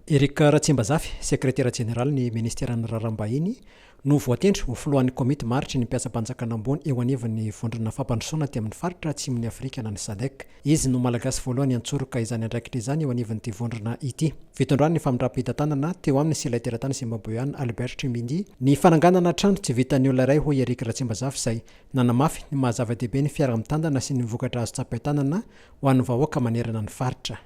Eric Ratsimbazafy, sekretera jeneralin'ny minisiteran'ny Raharaham-bahiny, no voatendry ho filohan'ny komity maharitry ny mpiasam-panjakana ambony eo anivon'ny Vondrona fampandrosoana aty amin'ny faritra Atsimon'i Afrika na ny Sadec. Izy no Malagasy voalohany hantsoroka izany andraikitra izany eo anivon'ity vondrona ity. Fitondrany ny famindram-pitantanana teo aminy sy ilay teratany Zimbaboeana Albert Chimindi ny fananganana trano tsy vitan'ny olona iray hoy Eric Ratsimbazafy izay nanamafy ny maha-zava-dehibe ny fiaraha-mitantana sy ny vokatra azo tsapain-tanana ho an'ny vahoaka manerana ny faritra.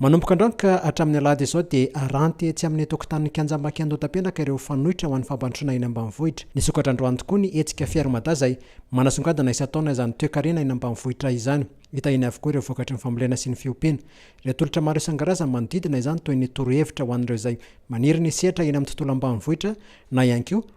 Manomboka androany ka hatramin'ny alahady izao dia haranty etsy amin'ny tokotanin'ny kianjam-banky Andohatapenaka ireo fanoitra ho an'ny fampandrosoana eny ambanivohitra. Nisokatra androany tokoa ny hetsika Fier Mada izay manasongadina isan-taona izany toekarena eny ambanivohitra izany. Hita eny avokoa ireo vokatry ny fambolena sy ny fiompiana. Ireo tolotra maro isan-karazany manodidina izany toy ny torohevitra ho an'ireo izay maniry ny sehatra eny amin'ny tontolo ambanivohitra na ihany koa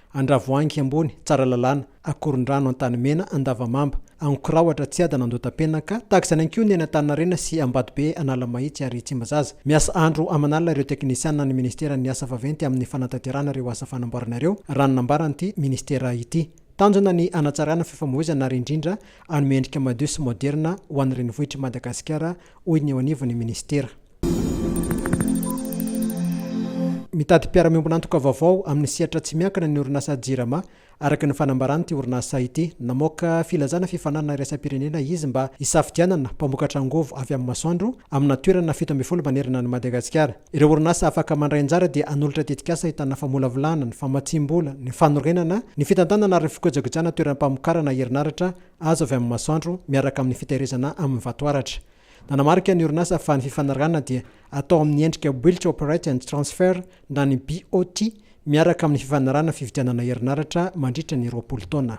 Andravoahangy ambony, Tsaralalàna, Akorondrano, Antanimena, Andavamamba, Ankorahoatra, Tsiadana, Andohatapenaka, tahaka izany ihany koa ny any Antaninarenina sy Ambatobe, Analamahitsy ary Tsimbazaza. Miasa andro aman'alina ireo teknisianina ny Ministeran'ny asa vaventy amin'ny fanatanterahana ireo asa fanamboarana ireo, raha ny nambaran'ity Ministera ity. Tanjona ny hanatsarana fifamohizana ary indrindra hanome endrika madio sy maoderina ho an'ny renivohitr'i Madagasikara, hoy ny eo anivon'ny Ministera. Mitady mpiara-miombon'antoka vaovao amin'ny sehatra tsy miankina ny orinasa Jirama, araka ny fanambaran'ity orinasa ity. Namoaka filazana fifaninanana iraisam-pirenena izy mba hisafidianana mpamokatra angovo avy amin'ny masoandro amina toerana fito ambin'ny folo manerana an'i Madagasikara. Ireo orinasa afaka mandray anjara dia hanolotra tetikasa ahitana famolavolana, ny famatsiam-bola, ny fanorenana, ny fitantanana ary ny fikojakojana toeram-pamokarana herinaratra azo avy amin'ny masoandro miaraka amin'ny fitahirizana amin'ny vatoaratra. Nanamarika ny orinasa fa ny fifanarahana dia atao amin'ny endrika Built, Operate and Transfer na ny BOT miaraka amin'ny fifanarahana fividianana herinaratra mandritra ny roapolo taona.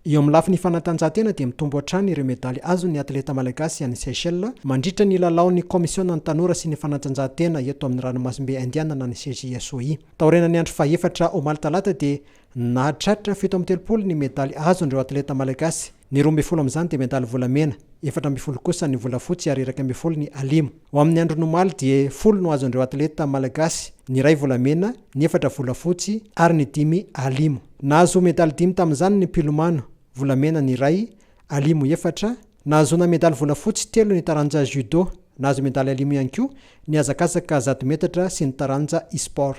Eo amin'ny lafiny fanatanjahantena dia mitombo hatrany ireo medaly azon'ny atleta malagasy any Seychelles mandritra ny lalaon'ny kaomisionan'ny tanora sy ny fanatanjahantena eto amin'ny ranomasimbe Indianina ny CJSOI. Taorianan'ny andro fahefatra omaly talata dia Nahatratra fito amby telopolo ny medaly azon'ireo atleta malagasy. Ny roa ambin'ny folo amin'izany dia medaly volamena, efatra ambin'ny folo kosa ny volafotsy ary iraika ambin'ny folo ny alimo. Ho amin'ny andron'ny omaly dia folo no azon'ireo atleta malagasy, ny iray volamena, ny efatra volafotsy ary ny dimy alimo. Nahazo medaly dimy tamin'izany ny mpilomano, volamena ny iray, alimo efatra, Nahazoana medaly volafotsy telo ny taranja Judo. Nahazo medaly alimo ihany koa ny hazakazaka zato metatra sy ny taranja e-sport.